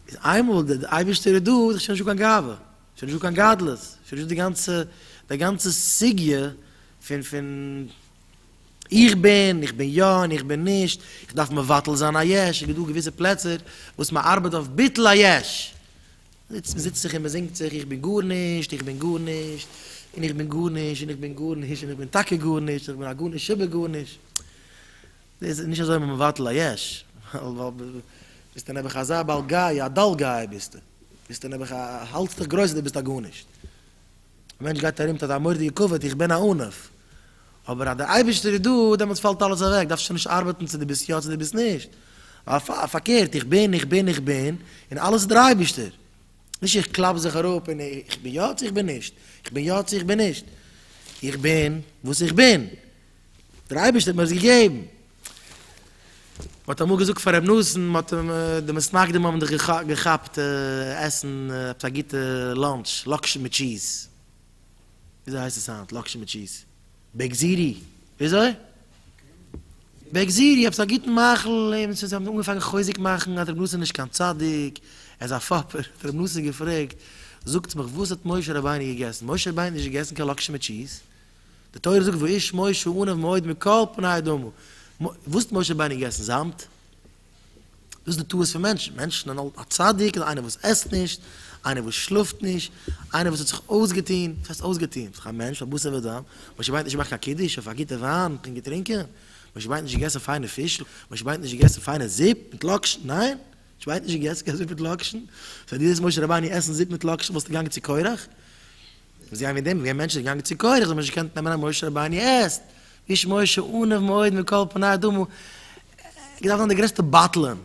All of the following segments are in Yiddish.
איז איינמאל דער אייבערשטער איז דא איז שוין נישטא קיין גאווה, שוין נישטא קיין גדלות, שוין נישטא די גאנצע די גאנצע סוגיא פון פון איך בין, איך בין יא און איך בין נישט, איך דארף מבטל זיין א יש, עס איז דא געוויסע פלעצער וואס מען ארבעט אויף ביטול היש, זיצט מען זיצט זיך און מען זינגט זיך איך בין גארנישט, איך בין גארנישט, און איך בין גארנישט, און איך בין גארנישט, און איך בין טאקע גארנישט, איך בין א גארנישט שבגארנישט. דאס איז נישט אזוי מבטל א יש, ביסטו נעבעך אזא בעל גאוה, א דל גאוה ביסטו, ביסטו נעבעך א, האלטסט דיך גרויס אז דו ביסט א גארנישט, א מענטש גייט ארום מיט אזא מורדיגע כבוד, איך בין א ענף, אבער אז דער אייבערשטער איז דא, דעמאלטס פאלט אלעס אוועק, דארפסט שוין נישט ארבעטן צו דו ביסט יא צו דו ביסט נישט, ווייל פארקערט, איך בין, איך בין, איך בין, און אלעס איז דער אייבערשטער, נישט איך קלאפ זיך אראפ און איך בין יא צו איך בין נישט, איך בין יא צו איך בין נישט, איך בין וואס איך בין, דער אייבערשטער האט מיר עס געגעבן. מען האט אמאל געזאגט פאר רבי נתן, מען האט אים די מסמכים האבן דיך געכאפט עסן עפעס א גוטע לאנטש, לאקשן מיט טשיז, וויאזוי הייסט עס היינט, לאקשן מיט טשיז, בעק זיטי, וויאזוי? בעק זיטי, עפעס א גוטן מאכל, און זיי האבן אנגעפאנגען חוזק מאכן אז רבי נתן איז נישט קיין צדיק, ער איז א פאפער, האט רבי נתן געפרעגט, זאגטס מיך וואס האט משה רבינו געגעסן, משה רבינו האט נישט געגעסן קיין לאקשן מיט טשיז, די תורה זאגט ואיש משה ענב מאוד מכל פני אדמו, וואס האט משה רבינו געגעסן? זאמד? דאס איז די טעות פון מענטשן, מענטשן זענען אלץ א צדיק איז איינער וואס עסט נישט, איינער וואס שלאפט נישט, איינער וואס האט זיך אויסגעטון, וואס הייסט אויסגעטון? זיך א מענטש פון בשר ודם, משה רבינו האט נישט געמאכט קיין קידוש אויף א גוטע וויין פון געטרינקען, משה רבינו האט נישט געגעסן פיינע פיש, משה רבינו האט נישט געגעסן פיינע זופ מיט לאקשן, ניין! כ'ווייס נישט געסט קיין זופ מיט לאקשן? סא דו זעסט משה רבנו עסן זופ מיט לאקשן וואלסטו געגאנגען צו קורח? מוז זיין וועגן דעם ווען מענטשן זענען געגאנגען צו קורח זאל מען נישט געקענט נעמען אז משה רבנו עסט, איש משה ענוו מאוד מכל פני אדם הוא, געדארפט זיין דער גרעסטע בטלן,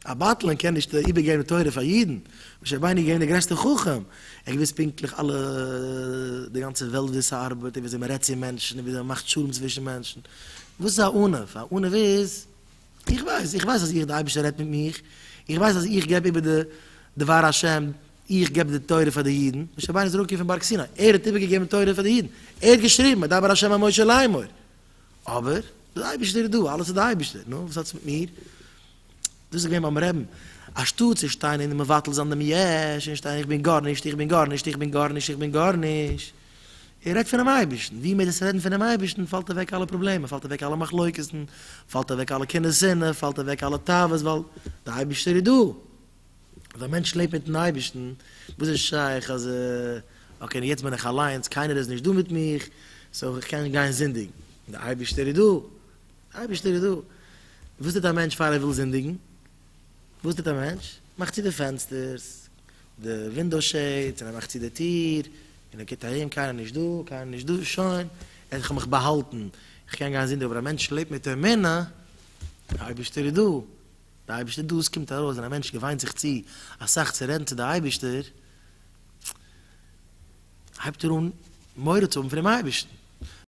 א בטלן קען נישט איבערגעבן תורה פאר אידן, משה רבנו איז געווען דער גרעסטער חכם, ער האט געוואוסט פונקטליך אלע די גאנצע וועלט וויאזוי ס'ארבעט און וויאזוי מ'רעדט צו מענטשן און וויאזוי מ'מאכט שלום צווישן מענטשן, וואס איז א ענוו? א ענוו איז. איך ווייס, איך ווייס אז איך, די אייבערשטער רעדט מיט מיך, איך ווייס אז איך געב איבער די דבר השם, איך געב די תורה פאר די אידן, משה רבינו איז אראפגעקומען פון בארג סיני, ער האט איבערגעגעבן תורה פאר די אידן, ער האט געשריבן, וידבר השם אל משה לאמור, אבער, די אייבערשטער איז דא, אלעס איז די אייבערשטער, נו, וואס האטס מיט מיר? דאס איז געווען ביים רעבן, אנשטאט צו שטיין און מבטל זיין דעם יש, און שטיין איך בין גארנישט, איך בין גארנישט, איך בין גארנישט, איך בין גארנישט. ער רעדט פונעם אייבערשטן, ווי מער דאס רעדן פונעם אייבערשטן פאלט אוועק אלע פראבלעמען, פאלט אוועק אלע מחלוקת'ן, פאלט אוועק אלע קנאה שנאה, פאלט אוועק אלע תאוות, ווייל דער אייבערשטער איז דא. אבער ווען א מענטש לעבט מיט'ן אייבערשטן, וואס איז שייך אז אקעי יעצט בין איך אליינס, קיינער איז נישט דא מיט מיך, סאו איך קען גיין זינדיגן, דער אייבערשטער איז דא, דער אייבערשטער איז דא. וואס טוט א מענטש פאר ער וויל זינדיגן? וואס טוט א מענטש? מאכט צו די פענסטערס. די ווינדאו שעידס און ער מאכט צו די טיר און ער קוקט ארום קיינער נישט דא קיינער נישט דא שוין ער האט מיך באהאלטן איך קען גיין זינדיגן אבער א מענטש לעבט מיט אמונה די אייבערשטער איז דא די אייבערשטער איז דא עס קומט ארויס ווען א מענטש געוויינט זיך צו אסאך צו רעדן צו די אייבערשטער הייבט ער אן מורא צו האבן פונעם אייבערשטן.